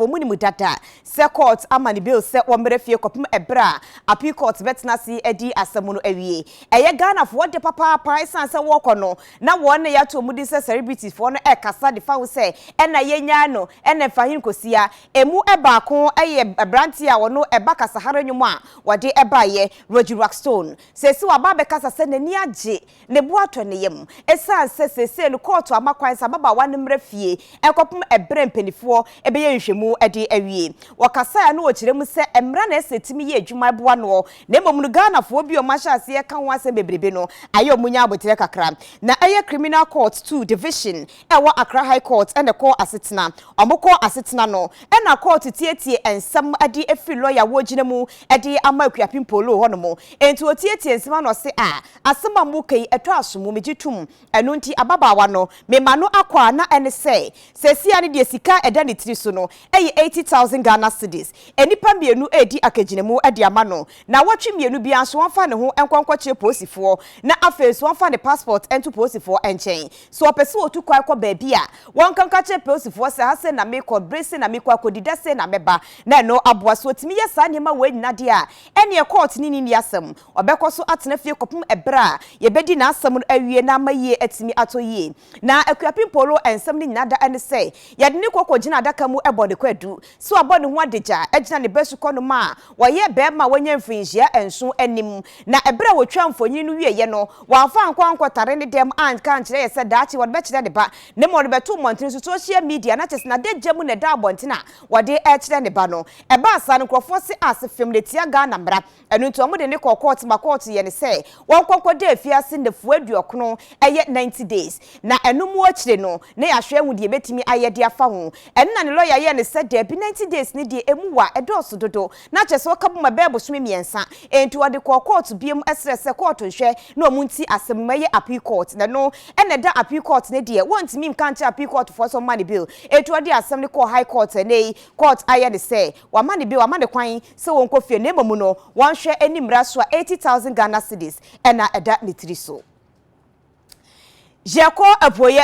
Wɔnim dada sɛ kɔɔt ama ne bail sɛ ɔmmra fie kɔpem ɛberɛ a Appeal Court bɛtena ase adi asɛm no awie. Ɛyɛ Ghanafoɔ de papaapa ɛsiane sɛ wɔɔkɔ no na wɔn na yɛato wɔn din sɛ celebrity foɔ no ɛkasa de fa ho sɛ ɛna yɛnyaa no ɛna Mfahene Kosia. Ɛmu baako yɛ abranteɛ a ɔno ɛba kasahare nnwom a wɔde baeɛ, Rogie Rockstone. Seesei waba abɛkasa sɛ n'ani agye Ne bo atɔ ne yam esiane sɛ seesei no kɔɔto ama kwan sɛ ababaawa no mmra fie kɔpem bere a mpanimfoɔ bɛyɛ nhwehwɛmu de awie. Wɔ kasaeɛ a na ɔkyerɛ mu sɛ mmara na ɛsɛ sɛ ɛtumi yɛ adwuma boa noɔ na mmom no Ghanafoɔ bi a wɔahyɛ aseɛ reka ho asɛm bebrebe no ayɛ wɔn nya aboterɛ kakra. Na ɛyɛ Criminal Court Two Division a ɛwɔ Accra High Court na ɛkɔɔ asetena. Wɔkɔɔ asetena no na kɔɔto tietiee nsɛm de firi lɔya a wɔgyina mu de ama Akuapem Poloo hɔnom. Enti wɔtietiee nsɛm ano ɔse a Asɛm a moreka yi, ɛtɔ asom o, megye tom. Ɛno nti, ababaawa no, mema no akwaa, na ɛne sɛ, seesei ara no deɛ sika a ɛda ne tiri so no yɛ eighty thousand Ghana cedis. Nnipa mmienu redi akagyinamu de ama no. Nnawɔtwe mmienu biara nso, ɔmfa ne ho nkɔ nkɔkyere polisifoɔ, na afei nso ɔmfa ne passport nto polisifoɔ nkyɛn. Sɛ ɔpɛ sɛ ɔtu kwan kɔ baabi a, wɔnka nka nkyerɛ polisifoɔ sɛ, ha sei na merekɔ, bere sei na merekɔ akɔdi, da sei na mɛba, na ɛno aboa. Sɛ ɔtumi yɛ saa nneɛma wei nyinaa deɛ a, ɛnneɛ kɔɔt ne no nni asɛm. Ɔbɛkɔ so atena fie kɔpem ɛberɛ a yɛbɛdi n'asɛm no awie na ama yie atumi atɔ yie. Na Akuapem Polo nsɛm no nyina da ɛne sɛ yɛde no kɔ kɔgyina adaka mu bɔ ne kwadu sɛ wabɔ ne ho adagya agyina ne ba sukɔnom a ɔyɛ barima a wanya mfirinhyia nson anim. Na ɛberɛ a wɔtwaa mfonini no wieɛ no wamfa ankɔ ankɔtare ne dɛm anka ankyerɛ yɛ sɛ daakye wɔde bɛkyerɛ ne ba na mmom ɔde bɛtoo mmɔntene so, social media, na kyesɛ n'adagya mu na ɛda abɔntene a wɔde rekyerɛ ne ba no. Ɛbaa saa no nkorɔfoɔ se ase fem na ɛtia Ghana mmara. Ɛno nti wɔn de no kɔɔ kɔɔto ma kɔɔto yɛ no sɛ wɔn kɔ nkɔ da afiase nnafua aduɔkono, ɛyɛ ninety days, na ɛno mu akyire no na yɛahwɛ ahu deɛ yɛbɛtumi ayɛ de afa ho. Ɛno na ne lɔya yɛɛ no sɛ daabi ninety days no deɛ ɛmu wa, ɛdɔɔso dodo, na kyerɛ sɛ ɔka bom ɛbɛyɛ bosome mmiɛnsa. Ɛnti wɔde kɔɔ kɔɔto biom srɛ sɛ kɔɔto nhwɛ na wɔn nti asɛm no mu, ɛyɛ appeal court, na ɛno na ɛda appeal court no deɛ wɔntumi nka nkyerɛ appeal court foɔ sɛ wɔmma no bail, ɛnti wɔde asɛm no kɔɔ high court, ɛnnɛ yi court ayɛ no sɛ wɔama no bail, wɔama no kwan, sɛ wɔnkɔ fie na mmom no wɔnhwɛ ani mmra so a eighty thousand Ghana cedis na ɛda ne tiri so. Yɛkɔ apueɛ.